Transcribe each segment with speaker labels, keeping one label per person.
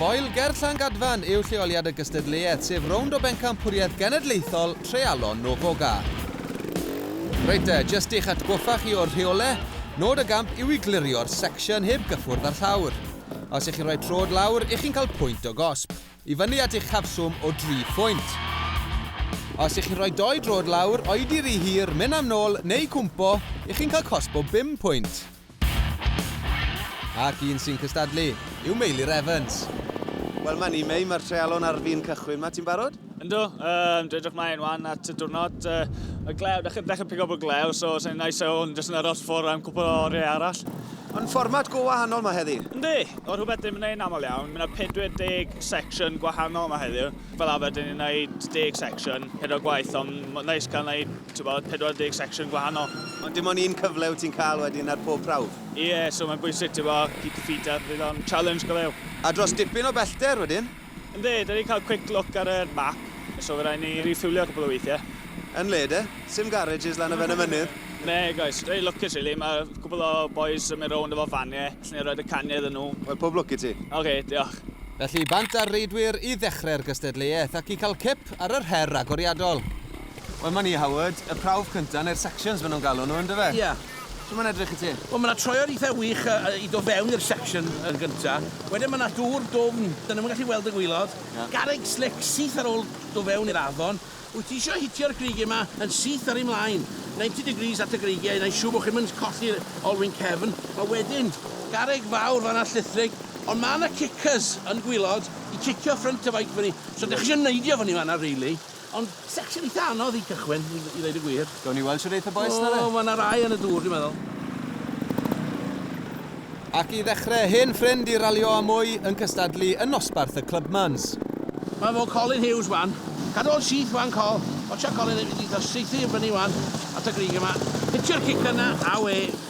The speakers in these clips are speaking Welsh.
Speaker 1: Foel ger Llangadfan yw lleoliad y gystadleuaeth, sef rownd o bencampwriaeth genedlaethol treialon Novoga. Reit de, jyst i'ch atgoffa chi o'r rheole, nod y gamp yw i glirio'r section heb gyffwrdd â'r llawr. Os y'ch chi'n rhoi trod lawr, y'ch chi'n cael pwynt o gosb. I fyny at eich cafswm o dri phwynt. Os y'ch chi'n rhoi dou droed lawr, oedi rhy hir, mynd am nôl, neu cwmpo, y'ch chi'n cael cosb o bum pwynt. Ac un sy'n cystadlu yw Meilir Evans. Wel, 'ma ni,
Speaker 2: Mei, mae'r treialon ar fin cychwyn 'ma. Ti'n barod? Yndw, yym,
Speaker 3: dwi edrych mlaen 'wan at y diwrnod. Yy, y glew, dechre, dechre pigo bod glew, so sa'n nice o hwn jyst yn aros ffwr' am cwpwl o oriau arall. Ond fformat go
Speaker 2: wahanol ma heddi. Yndi! Fel rhywbeth dyn ni'm
Speaker 3: yn neud aml iawn. Ma na 40 section gwahanol ma heddiw. Fel arfer dyn ni'n neud deg section, pedwar gwaith ond ma'n neis cael neud t'wbod 40 section gwahanol. Ond dim ond un cyfle
Speaker 2: wyt ti'n cael wedyn ar pob prawf? Ie, so mae'n bwysig
Speaker 3: t'bo' keep your feet up fydd o'n challenge go lew. A dros dipyn o
Speaker 2: bellter wedyn? Yndi, dwi 'di cael
Speaker 3: quick look ar yr map, so fy rai' ni refuelio cwpl o weithie. Yn le de?
Speaker 2: Sim garages lan y ben y mynydd? Na guys, reit
Speaker 3: lwcus rili, ma' cwpl o bois yn mynd rownd efo fanie, allen ni roid y canie iddyn nhw. Wel, pob lwc i ti.
Speaker 2: Ok, diolch.
Speaker 3: Felly bant â'r
Speaker 1: reidwyr i ddechre'r gystadleuaeth ac i cael cip ar yr her agoriadol. Wel 'ma ni Howard, y prawf cynta neu'r sections ma' nhw'n galw nhw yndyfe? Ie. Sut mae'n edrych
Speaker 4: i ti?
Speaker 1: Wel mae 'na troed eitha
Speaker 4: wych i dod fewn i'r section yn gynta'. Wedyn mae 'na dŵr dwfn, 'dan ni'm yn gallu weld y gwaelod. Ie. Garreg slic syth ar ôl do' fewn i'r afon. Wyt ti isio hitio'r greigie 'ma yn syth ar eu mlaen, ninety degrees at y greigie i neu' siŵr bo' chi'm yn colli'r olwyn cefn. A wedyn garreg fawr fan'na llithrig, ond ma' 'na cicyrs yn gwaelod i cicio ffrynt y feic fyny. So 'dych chi isio neidio fyny fan'na rili. Ond section eitha anodd i gychwyn i i ddeud y gwir. Gawn ni weld shwd eith y bois
Speaker 1: na fe? O ma' 'na rai yn y dŵr dwi
Speaker 4: meddwl.
Speaker 1: Ac i ddechre, hen ffrind i Ralio a Mwy yn cystadlu yn nosbarth y Clubmans. Ma' fo
Speaker 4: Colin Hughes wan. Cadw ol syth wan Col. Watcha Colin ddim 'di ddo- saethu i fyny wan at y grug yma. Hitio'r cic yna, awe.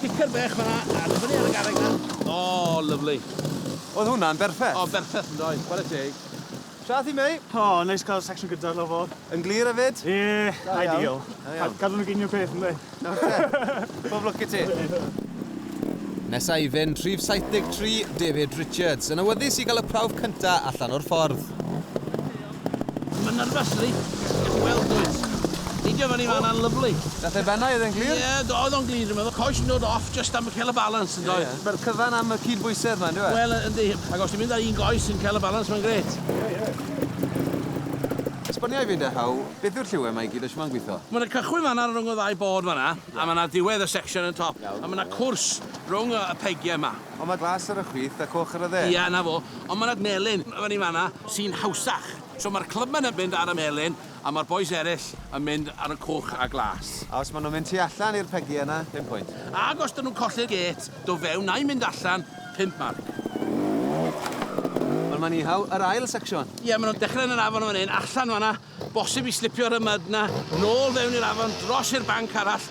Speaker 4: Picio'r bech fanna, a dod fyny ar y garreg 'na. O, lyfli. Oedd hwnna'n
Speaker 2: berffeth? O, berffeth yn doedd, chwarae
Speaker 4: teg. Shwt ti, mate?
Speaker 2: O, neis cael section
Speaker 5: gydar fel fo. Yn glir hefyd? Ie, ideal. Cadw nhw gyd yn un peth, yndi? Oce. Pob
Speaker 2: lwc i ti.
Speaker 1: Nesa i fynd, rhif 73, David Richards, yn awyddus i gael y prawf cynta allan o'r ffordd.
Speaker 4: Mae'n nyrfys ydi? Diolch yn fawr bois. Peidio fyny fan 'na'n lyfli. Dath e fana oedd e'n
Speaker 2: glir? Ie do oedd o'n glir dwi'n
Speaker 4: meddwl. Coes yn dod off jyst am ca'l y balans yn doedd? Ma'r cyfan am y
Speaker 2: cyd-bwysedd 'ma yndyw e? Wel yy yndi. Ac os ti'n
Speaker 4: mynd ar un goes yn ca'l y balans mae'n grêt.
Speaker 1: Esboniai fi 'da Huw beth yw'r lliwie 'ma i gyd a shwt ma'n gwitho? Ma' 'na cychwyn fan 'na
Speaker 4: rwng y ddau bord fan 'na a ma' 'na diwedd y section yn top a ma' 'na cwrs rwng y y pegie 'ma. Ond mae glas ar y chwith
Speaker 2: a coch ar y dde. Ia, 'na fo. Ond mae
Speaker 4: 'na melyn fyny yn fan'na sy'n hawsach. So mae'r clybyr yn mynd ar y melyn a mae'r bois eraill yn mynd ar y coch a glas. A os maen nhw'n mynd tu
Speaker 2: allan i'r pegiau yna, pump pwynt. Ac os 'dyn nhw'n colli'r
Speaker 4: gêt, do fewn na'u mynd allan, pump marc.
Speaker 1: Wel, mae'n ihaw yr ail secsiwn. Ie, maen nhw'n dechrau yn yr
Speaker 4: afon yn fan hyn, allan fan'na. Bosib i slipio'r ymad 'na nôl fewn i'r afon dros i'r banc arall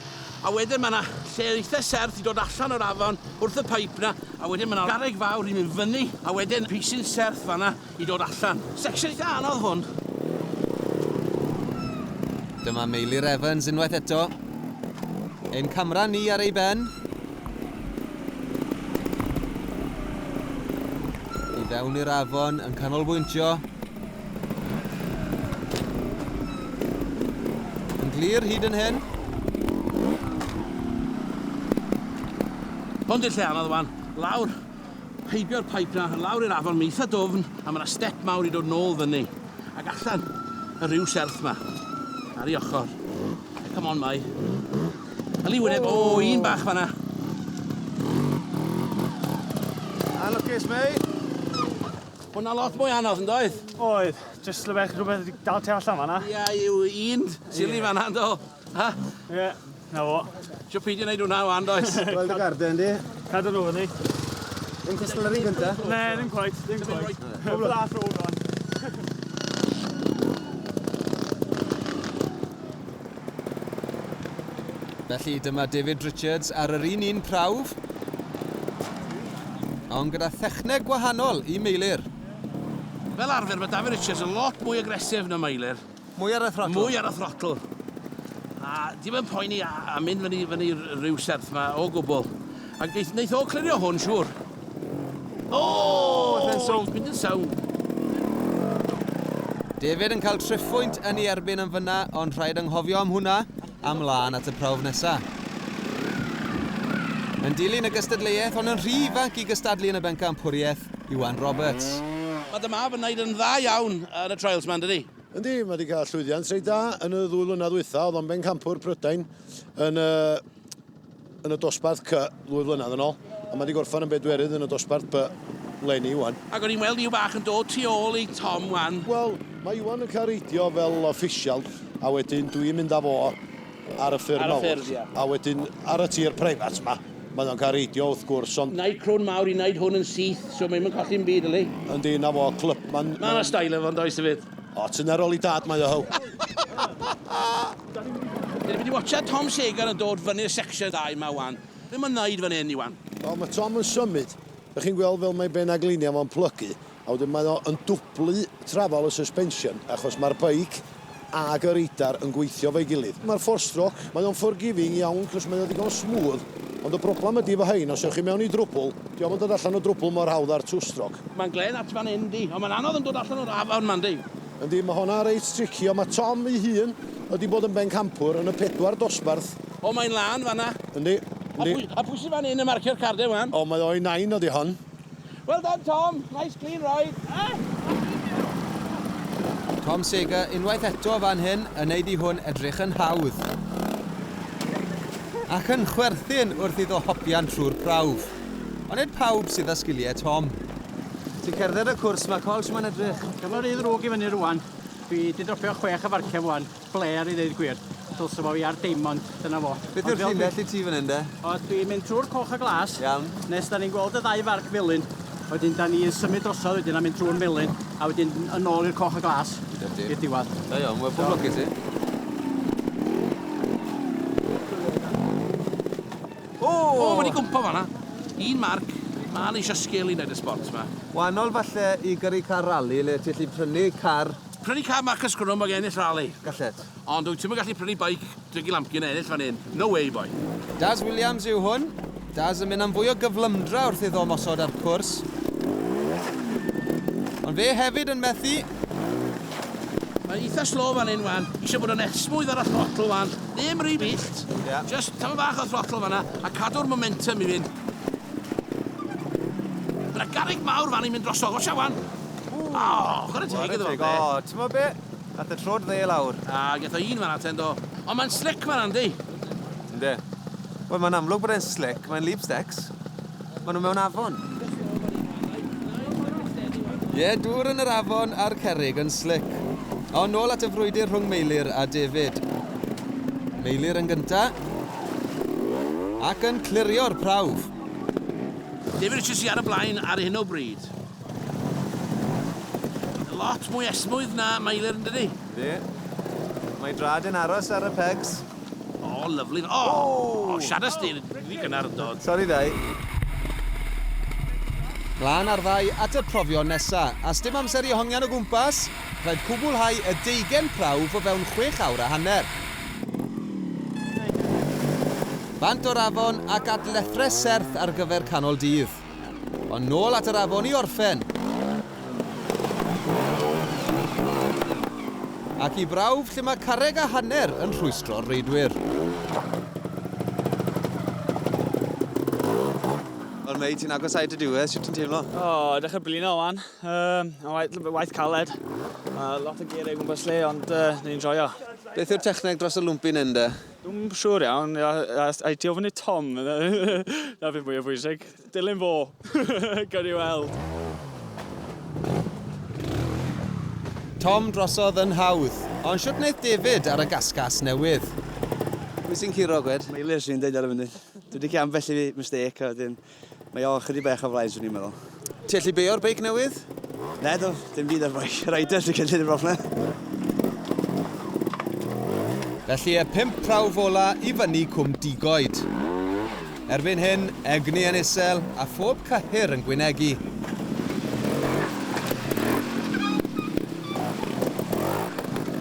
Speaker 4: a wedyn mae 'na lle eitha serth i dod allan o'r afon wrth y pyp 'na a wedyn mae 'na garreg fawr i mynd fyny a wedyn pisyn serth fan'na i dod allan. Section eitha anodd hwn.
Speaker 1: Dyma Meilir Evans unwaith eto. Ein camera ni ar ei ben. I fewn i'r afon yn canolbwyntio. Yn glir hyd yn hyn.
Speaker 4: Hon di'r lle anodd wan. Lawr, heibio'r pipe na, lawr i'r afon, mae'n eitha dwfn, a mae yna step mawr i dod nôl fyny. Ac allan, y rhyw serth ma. Ar ei ochr. E, come on, mai. Yli wyneb, o, oh, un bach fanna.
Speaker 2: Anlwcus, mei.
Speaker 4: Hwnna lot mwy anodd yn doedd? Oedd, jyst
Speaker 5: rhywbeth rhywbeth wedi dal ti allan fanna. Ia yw un
Speaker 4: sili fanna yndo? Ha? Ie, na fo. Sio peidio neud
Speaker 2: hwnna
Speaker 5: wan
Speaker 4: does?
Speaker 2: Gweld dy
Speaker 4: garden
Speaker 5: di?
Speaker 2: Cadw
Speaker 4: nhw fyny. Yn
Speaker 2: cystal yr un gynta? Ne, ddim cweit, ddim
Speaker 5: cweit. Hwyl da tro rwan.
Speaker 1: Felly dyma David Richards ar yr un un prawf, ond gyda thechneg gwahanol i Meilir. Fel
Speaker 4: arfer mae David Richards yn lot mwy agresif na Meilir. Mwy ar y throtl? Mwy
Speaker 1: ar y throtl.
Speaker 4: A dim yn poeni a, a mynd fyny, fyny rhyw serth mae o gwbl. Ac neith, neith o clirio hwn, siŵr. O! Mae'n sownd, mynd yn sownd.
Speaker 1: David yn cael triphwynt yn ei erbyn yn fyna, ond rhaid anghofio am hwnna, a mlaen at y prawf nesa. Yn dilyn y gystadleuaeth, ond yn rhy ifanc i gystadlu yn y bencampwriaeth, Iwan Roberts. Mae dy mab yn
Speaker 4: neud yn dda iawn ar y trials 'ma, yn dydi? Yndi, mae 'di cael
Speaker 6: llwyddiant reit dda yn y ddwy flynadd ddwytha. Oedd o'n bencampwr Prydain yn y yn y dosbarth C ddwy flynedd yn ôl, a mae wedi gorffen yn bedwerydd yn y dosbarth B leni Iwan. Ac o'n i'n weld Iw bach yn
Speaker 4: dod tu ôl i Tom wan. Wel, mae Iwan yn
Speaker 6: cael reidio fel official, a wedyn dwi yn mynd â fo ar y ffyrdd mawr. Ar y ffyrdd, ia. A wedyn
Speaker 4: ar
Speaker 6: y tir preifat ma, mae o'n cael reidio wrth gwrs, ond... Wneud crwn mawr i wneud
Speaker 4: hwn yn syth, so mae hi'm yn colli ddim byd, yli? Yndi, 'na fo,
Speaker 6: Clubman. Mae 'na style efo fo yn does,
Speaker 4: hefyd? O, tyner ol i dad
Speaker 6: mae o, Huw.
Speaker 4: Dyn ni wedi watsiad Tom Saegar yn dod fyny'r section dda yma wan. Be mae'n wneud fan hyn Iwan? Wel mae Tom yn
Speaker 6: symud, dych chi'n gweld fel mae ben a gliniau fo'n plygu a wedyn mae o yn dwblu trafal y suspension achos mae'r beic ag y radar yn gweithio efo'i gilydd. Mae'r four stroke, mae o'n forgiving iawn cos mae o ddigon smooth ond y broblem ydy efo hein os ewch chi mewn i drwbwl, dio'm yn dod allan o drwbwl mor hawdd â'r two stroke. Mae'n glên at fan hyn
Speaker 4: yndi, ond mae'n anodd yn dod allan o'r afon 'ma yndi? Yndi, mae honna reit
Speaker 6: tricky, ond mae Tom ei hun wedi bod yn bencampwr yn y pedwar dosbarth. O, mae'n lân
Speaker 4: fanna. Yndi, yndi.
Speaker 6: A pwy sy'n
Speaker 4: fan hyn yn marcio'r cardau wan? O, mae o'i nain oedd i
Speaker 6: hon. Well done,
Speaker 4: Tom. Nice clean ride.
Speaker 1: Tom Seeger unwaith eto fan hyn yn neud i hwn edrych yn hawdd. Ac yn chwerthin wrth iddo hopian trwy'r prawf. Ond nid pawb sydd â sgiliau Tom. Ti'n cerdded
Speaker 2: y cwrs 'ma Col, shwmae'n edrych? Dyma rhy ddrwg i fyny
Speaker 5: rwan. Dwi 'di dropio chwech efarciaf wan. Blêr i ddeud gwir. Dylse fo i ar Deimond, dyna fo. Beth yw'r llinell i ti
Speaker 2: fan hyn de? O, dwi'n mynd trwy'r
Speaker 5: coch a glas. Iawn. Nes da ni'n
Speaker 2: gweld y ddau
Speaker 5: farc felyn. Wedyn da ni'n symud drosodd wedyn a mynd trwy'r melyn. A wedyn yn ôl i'r coch a glas. I'r diwadd. Da iawn, wel pob lwc i
Speaker 2: ti.
Speaker 4: O! O, ma' 'di gwmpo fan 'na. Un marc. Ma' ann eisio sgil i neud y sbort 'ma. Waanol falle
Speaker 2: i gyrru car rali le ti allu prynu car. Prynu car Marcus
Speaker 4: Grwm ag ennill rali. Gallet. Ond
Speaker 2: wyt ti'm yn gallu
Speaker 4: prynu beic Dougie Lampkin a ennill fan hyn. No way, boi. Daz Williams
Speaker 1: yw hwn. Daz yn mynd am fwy o gyflymdra wrth iddo ymosod ar cwrs. Ond fe hefyd yn methu.
Speaker 4: Mae eitha slow fan hyn wan. Eisiau bod yn esmwyth ar y throttle wan. Ddim rhy bell. Ie. Jyst tymed
Speaker 2: bach o
Speaker 4: throttle fan 'na a cadw'r momentum i fynd. Ma' 'na garreg mawr fan 'na i mynd drosodd. Watcha 'wan. O! Chware teg iddo fe. O, t'mo' be'?
Speaker 2: Ath y trod dde lawr. A, geth o un fan 'na
Speaker 4: ten do. Ond mae'n slic fan 'na yndi? Ynde.
Speaker 2: Wel, mae'n amlwg bod e'n slic. Mae'n lip-stecs. Maen nhw mewn afon.
Speaker 1: Ie, yeah, dŵr yn yr afon a'r cerrig yn slic. O, nôl at y frwydr rhwng Meilir a David. Meilir yn gynta. Ac yn clirio'r prawf.
Speaker 4: David Richards i ar y blaen ar hyn o bryd. Lot mwy esmwydd na Meilir yn dydy. Ie.
Speaker 2: Mae Drad yn aros ar y pegs. O, lyfli.
Speaker 4: O! O, siadas di, rhi gynnar yn dod. Sori ddau.
Speaker 1: Glân ar ddau at y profion nesa, a sdim amser i hongian o gwmpas, rhaid cwbwlhau y deugen prawf o fewn chwech awr a hanner. Bant o'r afon ac at lethrau serth ar gyfer canol dydd. Ond nôl at yr afon i orffen. Ac i brawf lle mae carreg a hanner yn rhwystro'r reidwyr.
Speaker 2: Wel mei, ti'n agos at y diwedd, sut ti'n teimlo? O, oh, dechrau blino
Speaker 3: wan. Um, waith, waith caled. Uh, lot o geiriau gwmpas lle, ond uh, ni'n joio. Beth yw'r techneg
Speaker 2: dros y lwmpyn hyn de? Dwi'm siŵr iawn,
Speaker 3: I ti ofyn i Tom, na beth mwy o bwysig. Dilyn fo, gawn ni weld.
Speaker 1: Tom drosodd yn hawdd, ond siwt wneud David ar y gasgas newydd?
Speaker 7: Pwy sy'n curo, Gwed? Mae Liz sy'n deud
Speaker 2: ar y
Speaker 7: funud. Dwi wedi cael ambell
Speaker 2: i
Speaker 7: mistake a wedyn... Mae o chydig bach o flaen swn i'n meddwl. Ti allu beio'r
Speaker 2: beic newydd? Na do,
Speaker 7: dim byd ar beic. Rider sy'n cynllun y broblem.
Speaker 1: Felly y pimp prawf ola i fyny Cwm Digoed. Erbyn hyn, egni yn isel a phob cyhyr yn gwynegu.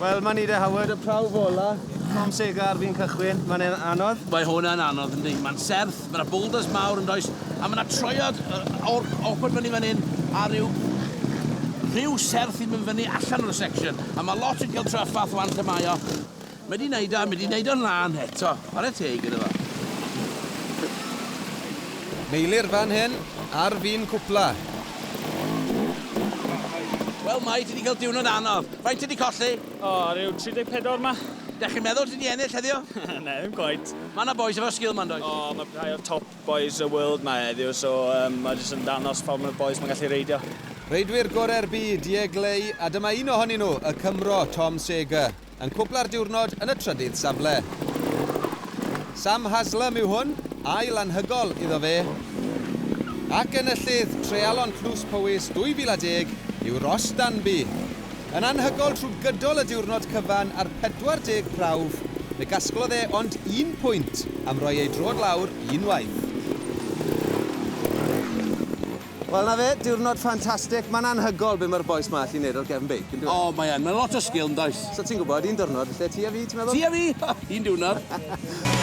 Speaker 2: Wel, mae'n nid e Howard, y prawf ola. Tom Segar fi'n cychwyn, mae'n anodd. Mae hwnna'n anodd,
Speaker 4: yndi. Mae'n serth, Mae yna boulders mawr yn does, a mae yna troiad o'r open fyny fan hyn a rhyw rhyw serth sy'n mynd fyny allan o'r section, a mae lot yn cael traffath wan lle mae o. Mae di neud o, mae di neud o'n lân eto, chwarae teg iddo fo.
Speaker 1: Meilir fan hyn ar fin cwpla.
Speaker 4: Wel Mai, ti di cael diwrnod anodd. Faint ti di colli? O, rhyw
Speaker 3: 34 'ma. Dach chi'n meddwl ti 'di
Speaker 4: ennill heddiw? Na, ddim
Speaker 3: cweit. Ma' 'na bois efo sgil 'ma
Speaker 4: yndoes? O, ma' rhai o'r top
Speaker 3: bois y world 'ma heddiw, so yym ma' jyst yn dangos pa mor bois ma'n gallu reidio. Reidwyr gore'r
Speaker 1: byd, Ye Glei, a dyma un ohonyn nhw, y Cymro, Tom Sager, yn cwpla'r diwrnod yn y trydydd safle. Sam Haslam yw hwn, ail anhygol iddo fe. Ac enillydd Treialon Tlws Powys 2010 yw Ross Danby. Yn anhygoel trwy gydol y diwrnod cyfan ar 40 prawf, fe gasglodd e ond un pwynt am roi ei droad lawr unwaith.
Speaker 2: Wel 'na fe, diwrnod ffantastig, mae'n anhygoel be mae'r bois 'ma allu neud ar gefn beic, yndyw e? O mae yn, mae lot o
Speaker 4: sgil
Speaker 2: yndoes?
Speaker 4: So
Speaker 2: ti'n gwybod, un
Speaker 4: diwrnod
Speaker 2: lle ti a
Speaker 4: fi, ti'n
Speaker 2: meddwl?
Speaker 4: Ti a fi! Un diwrnod.